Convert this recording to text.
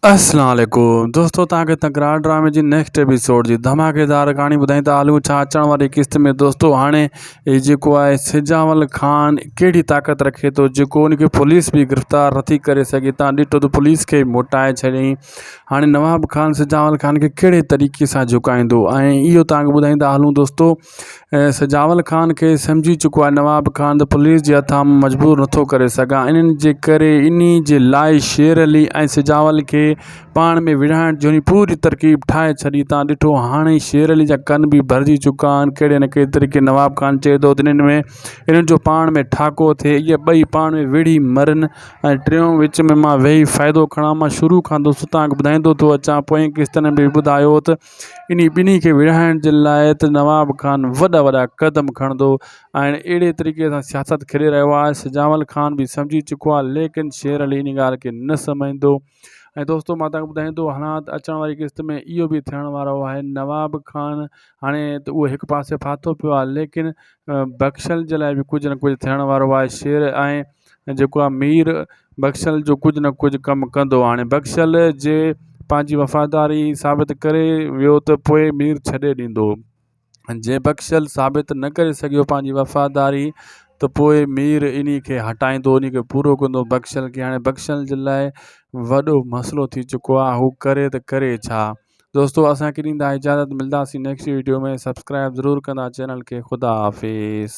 اسلام عليڪم دوستو تان کي تڪرار ڊرامي جي نيڪسٽ ايپيسوڊ جي ڌماڪيدار ڪهاڻي ٻڌائين ته هلون ڇا اچڻ واري قسط ۾ دوستو هاڻي هي جيڪو آهي سجاول خان ڪهڙي طاقت رکي ٿو جيڪو ان کي پوليس به گرفتار نٿي ڪري سگهي تان ڏٺو ته پوليس کي موٽائي ڇڏيائين هاڻي نواب خان سجاول خان کي ڪهڙي طريقي سان جهڪائيندو ۽ اهو تان کي ٻڌائين ٿا هلون دوستو ۽ سجاول خان کي سمجهي چڪو آهي نواب خان ته پوليس جي هٿان مجبور نٿو ڪري سگهان انهن جي ڪري انهي جي لاء شير علي ۽ سجاول کي پاڻ ۾ وڙهائڻ جهڙي پوري ترڪيب ٺاهي ڇڏي تان ڏٺو هاڻي شير علي جا ڪن به ڀرجي چڪا آهن ڪهڙي نه ڪهڙي طريقي نواب خان چئي ٿو ته انهن ۾ انهن جو پاڻ ۾ ٺاڪو ٿئي اهي ٻئي پاڻ ۾ وڙهي مرن ۽ ٽيون وچ ۾ مان ويهي فائدو کڻان مان شروع کان دوستان کي ٻڌائيندو ٿو اچان پوئين قسطن ۾ به ٻڌايو هو ته انهي ٻنهي کي ورهائڻ جي لاء ته نواب خان وڏا وڏا قدم کڻندو ۽ اهڙي طريقي سان سياست کيڏي رهيو آهي سجاول خان به سمجهي چڪو آهي ليڪن شير علي انهي ڳالهه کي نه سمجهندو ۽ دوستو مان توهان کي ٻڌايان ٿو هاڻ ته اچڻ واري قسط ۾ اهو به ٿيڻ وارو آهي نواب خان هاڻي ته اهو هڪ پاسي ڦاٿو پيو آهي ليڪن بخشل جي لاء به ڪجهه نه ڪجهه ٿيڻ وارو آهي شير ۽ جيڪو آ مير بخشل جو ڪجهه نه ڪجهه ڪم ڪندو هاڻي بخشل جي پنهنجي وفاداري ثابت ڪري ويو ته پوء مير ڇڏي ڏيندو جي بخشل ثابت نه ڪري سگهيو پنهنجي وفاداري ته پوء مير ان کي هٽائيندو ان کي پورو ڪندو بخشل کي هاڻي بخشل جي لاء وڏو مسئلو ٿي چڪو آ هو ڪري ته ڪري ڇا دوستو اسانکي ڏيندا اجازت ملداسين نيڪسٽ ويڊيو ۾ سبسڪرائب ضرور ڪندا چينل کي خدا حافظ